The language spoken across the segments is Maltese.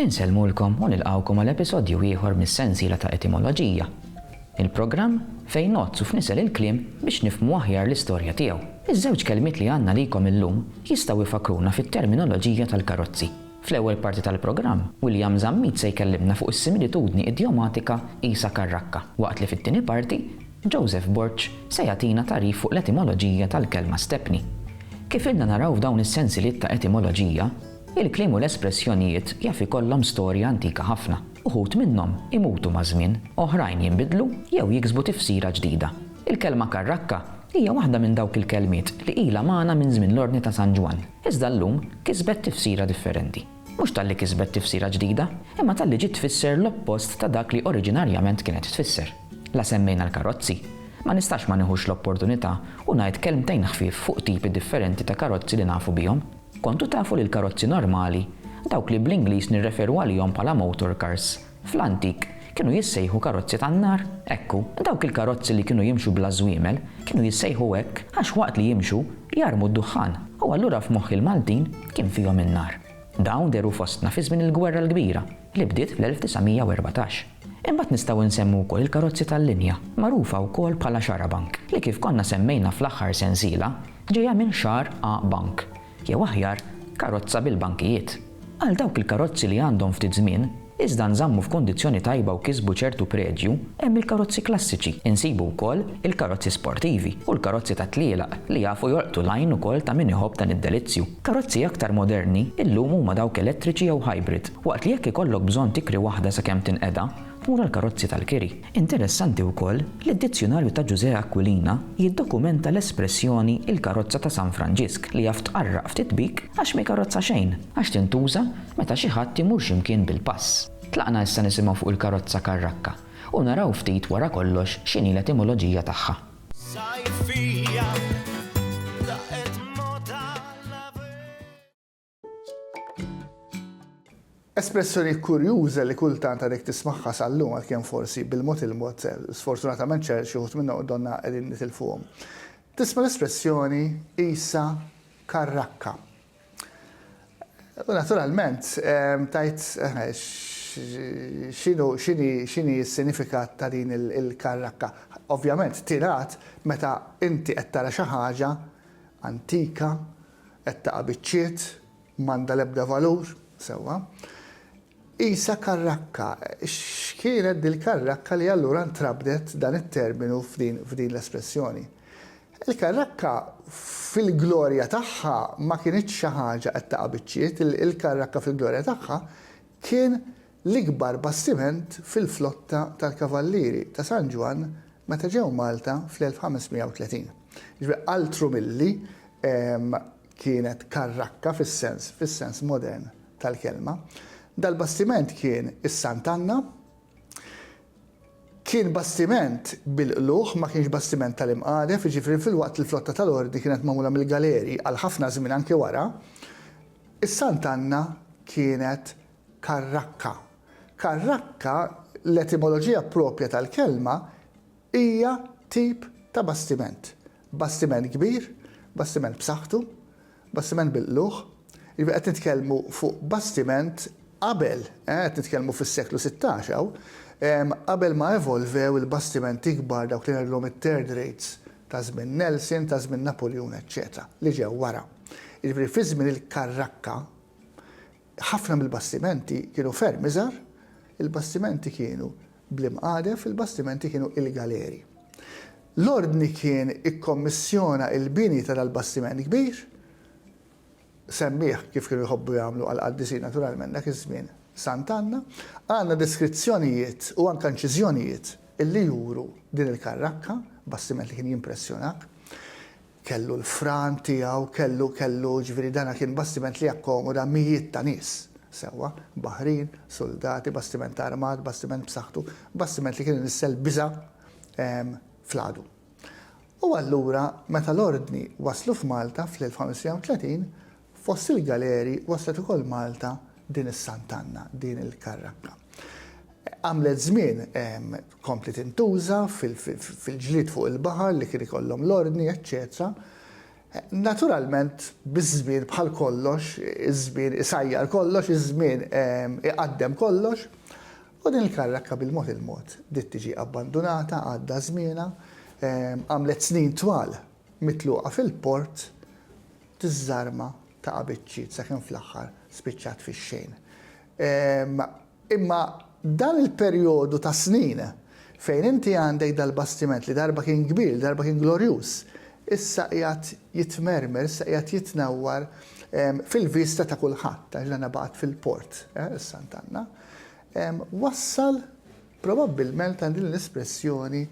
Insellmulkom u nilqgħukom għal episodju ieħor mis-sensiela ta' Etimoloġija, il-programm fejn ngħodd u fnisel il-kliem biex nifhmu aħjar l-istorja tiegħu. Iż-żewġ kelmiet li għandna għalikom illum jistgħu jfakkruna fit-terminoloġija tal-karozzi. Fl-ewwel parti tal-programm, William Zammit se jkellimna fuq is-similitudni idjomatika Isa Karrakka, waqt li fit-tieni parti, Joseph Borg se jagħtina tagħrif fuq l-etimoloġija tal-kelma stepney. Kif ilna naraw f'dawn is-sensiliet ta' Etimoloġija, Il-kliem u l-espressjonijiet jaf ikollhom storja antika ħafna. Uħud minnhom imutu maż-żmien, oħrajn jinbidlu jew jiksbu tifsira ġdida. Il-kelma karrakka hija waħda minn dawk il-kelmiet li ilha magħna minn żmien l-Ordni ta' San Ġwann, iżda llum kisbet tifsira differenti. Mhux talli kisbet tifsira ġdida, imma talli ġiet tfisser l-oppost ta' dak li oriġinarjament kienet tfisser. La semmejna l-karozzi, ma nistax ma nieħux l-opportunità u ngħid kelmtejn ħfief fuq tipi differenti ta' karozzi li nafu bihom. Kontu tafu li l-karozzi normali, dawk li bl-Ingliż nirreferu għalihom bħala motor cars, fl-antik kienu jissejħu karozzi tan-nar? Ekku, dawk il-karozzi li kienu jimxu bla żwiemel kienu jissejħu hekk għax waqt li jimxu jarmu d-duħħan u allura f'moħħ il-Maltin kien fihom in-nar. Dawn dehru fostna fi żmien il-Gwerra l-Kbira li bdiet fl-1914. Imbagħad nistgħu nsemmu wkoll il-karozzi tal-linja, magħrufa wkoll bħala xarabank, li kif konna semmejna fl-aħħar sensiela, Ġejja minn xahar A Bank, jew aħjar, karozza bil-bankijiet. Għal dawk il-karozzi li għandhom ftit żmien, iżda nżammu f'kundizzjoni tajba u kisbu ċertu predju, hemm il-karozzi klassiċi, insibu wkoll il-karozzi sportivi u l-karozzi tat-tlielaq li jafu jolqtu l-għajn ukoll ta' min iħobb dan id-delizzju. Karozzi aktar moderni illum huma dawk elettriċi jew hybrid, waqt li jekk ikollok bżonn tikri waħda sakemm tinqeda, u tal-karozzi tal-kiri. Interessanti wkoll li d-Dizzjunarju ta' Ġużè Aquilina jiddokumenta l-espressjoni il-karozza ta' San Franġisk li jaf tqarraq ftit bik għax m'karozza xejn, għax tintuża meta xi ħadd imur xi mkien bil-pass. Tlaqna issa nisimgħu fuq il-karozza karrakka u naraw ftit wara kollox x'inhi l-etimoloġija tagħha. Espressjoni kurjuża li kultant għadek tismagħha sal-lum għalkemm forsi bil-mod il-mod sfortunatament xi wħud minna u donna qegħdin nitilfuhom. Tisma' l-espressjoni qisha karrakka. U naturalment ehm, tajt eh, xinu xini s-sinifikat ta' din il-karrakka. Ovvjament tirat meta inti qed tara xi ħaġa antika Qed taqa' biċċiet, m'għandha l-ebda valur, sewwa. Qisha karrakka. X'kienet dil-karrakka li allura ntrabdet dan it-terminu f'din l-espressjoni? Il-karrakka fil-glorja tagħha ma kinitx xi ħaġa qed taqa' biċċiet, il-karrakka fil-glorja tagħha kien l-ikbar bastiment fil-flotta tal-Kavallieri ta' San Ġwann meta ġew Malta fl-1530. Jiġifieri altru milli kienet karrakka fis-sens fis-sens modern tal-kelma, dal-bastiment kien is-Sant Anna. Kien bastiment bil-qlugħ, ma kienx bastiment tal-imqadef, jiġifieri filwaqt li l-flotta tal-Ordni kienet magħmula mill-galeri għal ħafna żmien anke wara, is-Sant Anna kienet Karrakka. Karrakka, l-etimoloġija proprja tal-kelma, hija tip ta' bastiment. Bastiment kbir, bastiment b'saħħtu, bastiment bil-qlugħ. Jiġifieri qed nitkellmu fuq bastiment qabel, qed nitkellmu fis-seklu sittax hawn, qabel ma evolvew il-bastimenti kbar dawk li ngħidulhom it-third rates ta' żmien Nelson, ta' żmien Napuljun eċċetera, li ġew wara. Jiġifieri fi żmien il-karrakka, Ħafna mill-bastimenti kienu ferm iżgħar, il-bastimenti kienu bl-imqadef, il-bastimenti kienu il-galeri. L-Ordni kien ikkommissjona l-bini ta' dal-bastiment kbir, semmieh kif kienu jħobbu jagħmlu għall-qaddisin naturalment dak iż-żmien Sant'Anna. Għandna deskrizzjonijiet u anke inċiżjonijiet li juru din il-karrakka, bastiment li kien jimpressjonak. Kellu l-fran tiegħu, kellu, kellu, jiġifieri dan kien bastiment li jakkomoda mijiet ta' nies. Sewwa, baħrin, suldati, bastiment armat, bastiment b'saħħtu, bastiment li kien inissel biża' fl-għadu. U allura meta l-Ordni waslu f'Malta fl-1530, Fost il-galeri waslet ukoll Malta din is-Sant'Anna, din il-karrakka. Għamlet żmien kompliet intuża fil-ġlied fuq il-baħar li kien ikollhom l-ordni, eċċetera. Naturalment biż-żmien bħal kollox, iż-żmien isajjar kollox, iż-żmien iqaddem kollox, u din il-karrakka bil-mod il-mod bdiet tiġi abbandunata, għadda żmienha, għamlet snin twal mitluqa fil-port, Tiżżarma ta' qabiċċiet sakemm fl-aħħar spiċċat fix-xejn. Imma dan il-perjodu ta' snin fejn inti għandek dal-bastiment li darba kien kbir, li darba kien glorjuż, issa qiegħed jitmermer, issa qiegħed jitnewwar fil-vista ta' kulħadd għax dan abgħad fil-port, is-Sant Anna, wassal probabbilment għal din l-espressjoni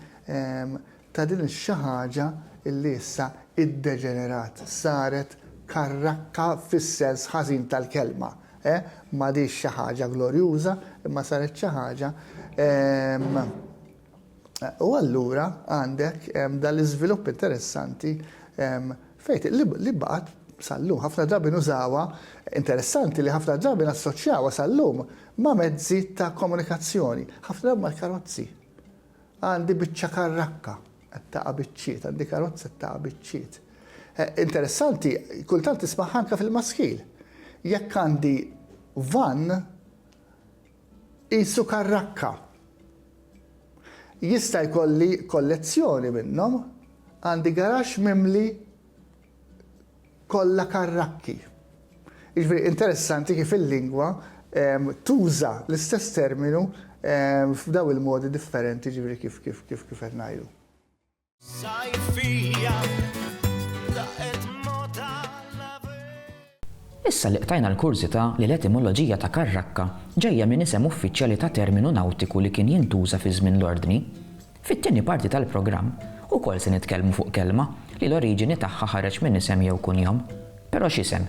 ta' din ix-xi ħaġa li issa iddeġenerat, saret karrakka fis-sens ħażin tal-kelma, eh, m'għadhiex xi ħaġa glorjuża imma saret xi ħaġa, ehm, u allura għandek ehm, dan l-iżvilupp interessanti ehm, fejt li baqgħet sal-lum ħafna drabi nużawha, interessanti li ħafna drabi nassoċjawha sal-lum ma' mezzi ta' komunikazzjoni, ħafna drabi mal-karozzi. Għandi biċċa karrakka qed taqa' biċċiet, għandi karozza qed taqa' biċċiet. Eh, interessanti, kultant tismaħ anke fil-maskil. Jekk għandi van, isu karrakka. Jista' jkolli kollezzjoni minnhom, għandi garax mimli kollha karrakki. Jiġifieri interessanti kif il-lingwa tuża l-istess terminu f'dawn il-modi differenti jiġifieri kif kif kif kif qed ngħidu. Sajfija daqet mota l-aver. Issa li qtajna l-kurżità li l-etimoloġija ta' karrakka ġejja minn isem uffiċjali ta' terminu nawtiku li kien jintuża fi żmien l-Ordni, Fit-tieni parti tal-programm ukoll se nitkellmu fuq kelma li l-oriġini tagħha ħareġ minn isem jew kunjom. Però x'isem,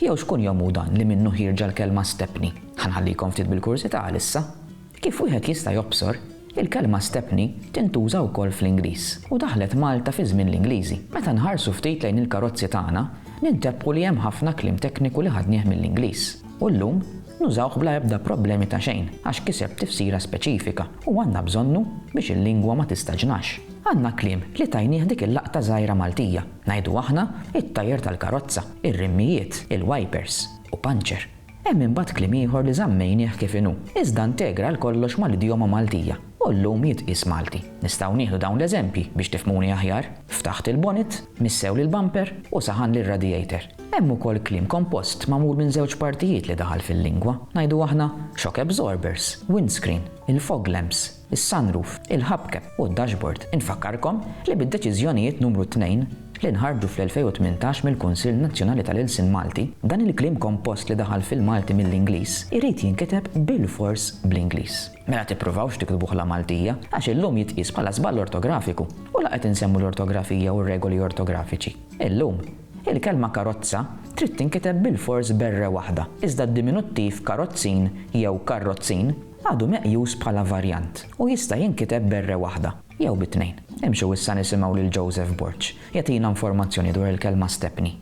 jew x'kunjom hu dan li minnu ħierġa l-kelma stepni? Ħa nħallikom ftit bil-kurżità għalissa. Kif wieħed jista' jobsor, il-kelma stepni tintuża wkoll fl-Ingliż u daħlet Malta fi żmien l-Ingliżi. Meta nħarsu ftit lejn il-karozzi tagħna, nintebħu li hemm ħafna kliem tekniku li ħadnieh mill-Ingliż u llum nużawh bla ebda problemi ta' xejn għax kiseb tifsira speċifika. U għandna bżonnu biex il-lingwa ma tistaġnax. Għandna kliem li tajnieh dik il-laqta żgħira Maltija, ngħidu aħna it-tajer tal-karozza, ir-rimmijiet, il-wajpers, u panċer. Hemm imbagħad kliem ieħor li żammejnieh kif inhu, iżda ntegra għal kollox mal-idjoma Maltija, u llum jitqies Malti. Nistgħu nieħdu dawn l-eżempji biex tifhmuni aħjar, ftaħt il-bonnet, missew l-bumper, u saħan l-radiator. Hemm ukoll kliem kompost magħmul minn żewġ partijiet li daħal fil-lingwa, ngħidu aħna, shock absorbers, windscreen, il-fog lamps, is-sunroof, il-hubcap u d-dashboard. Infakkarkom li bid-Deċiżjonijiet Numru Tnejn li nħarġu fl-2018 mill-Kunsill Nazzjonali tal-Ilsien Malti, dan il-kliem kompost li daħal fil-Malti mill-Ingliż irid jinkiteb bilfors bl-Ingliż. Mela tippruvawx tiktbuh la Maltija, għax illum jitqies bħala żball ortografiku u la qed insemmu l-ortografija u r-regoli ortografiċi, illum. Il-kelma karozza trid tinkiteb bilfors b'erre waħda, iżda d-diminuttiv karozzin jew karrozzin għadu meqjus bħala varjant u jista' jinkiteb b'erre waħda jew bi tnejn. Imxu issa nisimgħu lil Joseph Borg jagħtina informazzjoni dwar il-kelma stepney.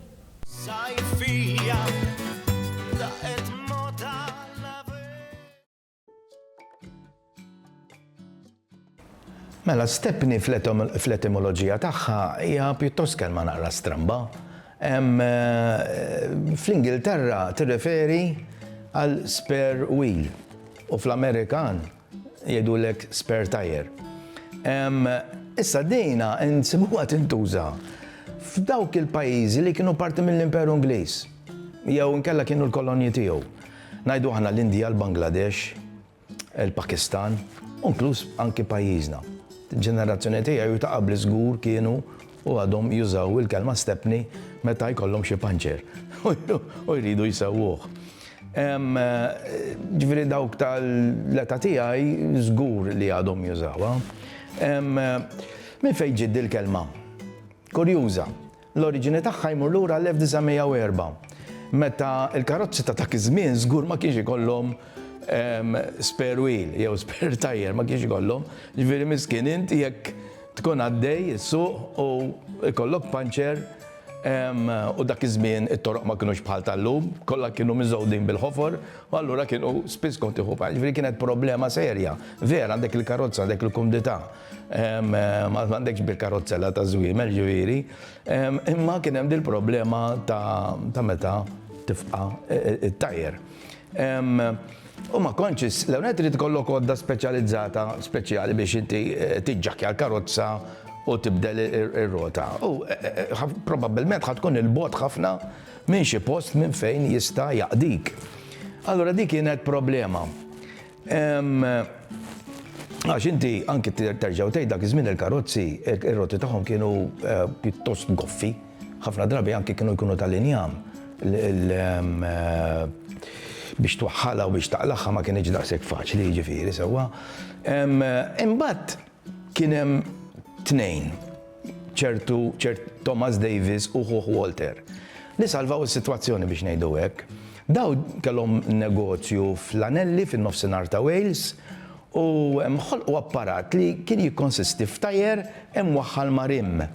Mela, Stepni fl-etimoloġija tagħha hija pjuttost kelma naqra stramba. Eh, fl-Ingilterra tirreferi għal spare wheel u fl-Amerikan jgħidulek spare tire. Issa dina nsibuha tintuża f'dawk il-pajjiżi li kienu parti mill-Imperu Ingliż jew nkella kienu l-kolonji tiegħu. Ngħidu aħna l-Indja, l-Bangladesh, il-Pakistan, u inkluż anki pajjiżna. Il-ġenerazzjoni tiegħi u ta' qabli żgur kienu u għadhom jużaw il-kelma stepney meta jkollhom xi panċer u jridu jsewwuh. Ġifieri dawk tal-età tiegħi żgur li għadhom jużawha. Minn fejn ġiet dil-kelma? Kurjuża. L-oriġini tagħha jmur lura għall-1904, meta l-karozzi ta' dak iż-żmien żgur ma kienx ikollhom spare wheel jew spare tyre, ma kienx ikollhom. Ġifieri miskien int jekk tkun għaddej issuq u jkollok puncture, u dak iż-żmien it-toroq ma kinux bħal tal-lum, kollha kienu miżgħudin bil-ħofor, u allura kienu spiss kont tieħu puncture. Ġifieri kienet problema serja. Vera għandek il-karozza, għandek il-kumdità. Ma għandekx bil-karozzella ta' żwiemel ġifieri, imma kien hemm dil-problema ta' meta tifqa' it-tajr. U ma kontx l-ewwel trid ikollok għodda speċjalizzata speċjali biex inti tiġġakkja l-karozza u tibdel ir-rota. U probabbilment ħa tkun 'il bogħod ħafna minn xi post minn fejn jista' jaqdik. Allura dik kienet problema. Għax inti anki terġa' u tgħid dak iż-żmien il-karozzi, ir-roti tagħhom kienu pjuttost goffi, ħafna drabi anki kienu jkunu tal-injam biex twaħħalha u biex taqlagħha ma kinitx daqshekk faċli, jiġifieri sewwa. Imbagħad, Kien hemm tnejn, ċertu ċert Thomas Davis u ħuh Walter, li salvaw is-sitwazzjoni biex ngħidu hekk. Daw kellhom negozju fl-Anelli fin-nofsinhar ta' Wales u ħolqu apparat li kien jikkonsisti f'tajer imwaħħal ma' rimm.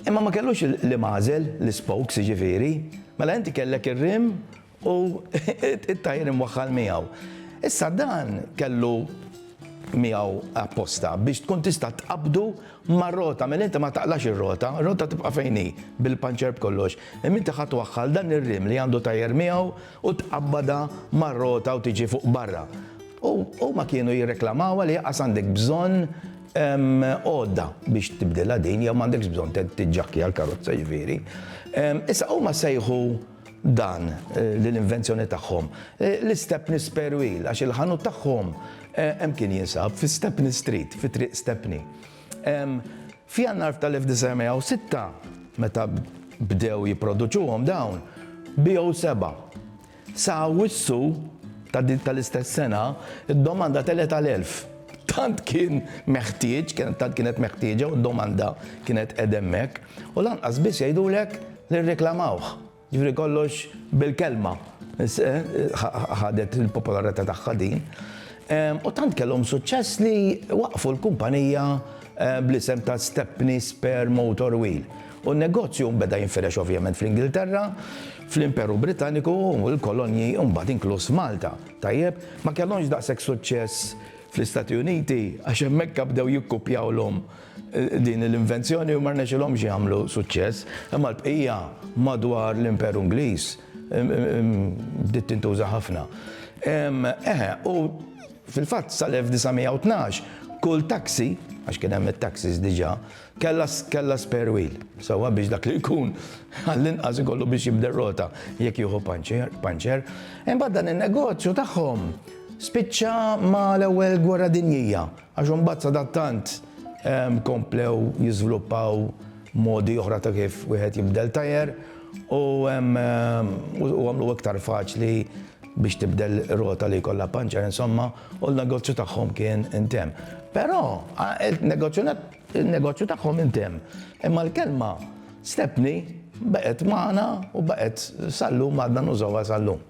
Imma ma kellux l-im għażel, l-ispokes jiġifieri. Mela inti kellek ir-rim u t-tajr imwaħħal miegħu. Issa dan kellu miegħu apposta biex tkun tista' tqabbdu mar-rota, mela inti ma taqlax ir-rota, ir-rota tibqa' fejn hi bil-puncher b'kollox. Imma inti ħa twaħħal dan ir-rim li għandu tajr miegħu u tqabbadha mar-rota u tiġi fuq barra. U huma kienu jirreklamawha li aqas għandek bżonn Hemm għodda biex tibdilha din jew m'għandekx bżonn tiġġakkja l-karozza ġifieri. Issa huma sejħu dan l-invenzjoni tagħhom l-istepni spare wheel għax il-ħanut tagħhom hemm kien jinsab fi Stepney Street, fi Triq Stepney. F'Jannar f'tal-1906 meta bdew jipproduċuhom dawn biegħu sebgħa. Sa Awwissu ta' dik tal-istess sena, id-domanda telgħet għal 1,000. Tant kien meħtieġ, tant kienet meħtieġa u d-domanda kienet qegħda hemmhekk, u lanqas biss jgħidulek li rreklamawh. Jiġifieri kollox bil-kelma ħadet il-popolarità tagħha din. U tant kellhom suċċess li waqqfu l-kumpanija bl-isem ta' Stepney Spare Motor Wheel. U n-negozju nbeda jinfirex ovvjament fl-Ingilterra, Fl-Imperu Britanniku, il-kolonji, imbagħad inkluż Malta, tajjeb, ma kellhomx daqshekk suċċess fl-Istati Uniti għax hemmhekk bdew jikkupjawlhom din l-invenzjoni u ma rnexxilhomx jagħmlu suċċess, imma l-bqija madwar l-Imperu Ingliż bdiet tintuża ħafna. Eħe, u fil-fatt sal-1912 kull taxi, għax kien hemm it-taxis diġà, Kellha kellha spare wheel sewwa biex dak li jkun għall-inqas ikollu biex jibdel rota jekk jieħu panċer, puncher. Imbagħad dan in-negozju tagħhom spiċċa ma' l-Ewwel Gwerra Dinjija għax imbagħad sadattant ehm, komplew jiżviluppaw modi oħra ta' kif wieħed jibdel tajer u ehm, ehm, u għamlu iktar faċli biex tibdel rota li jkollha panċer insomma u l-negozju tagħhom kien intemm. Però il-negozju tagħhom intemm, imma l-kelma stepni baqgħet magħna u baqgħet sal-lum għadna nużawha sal-lum.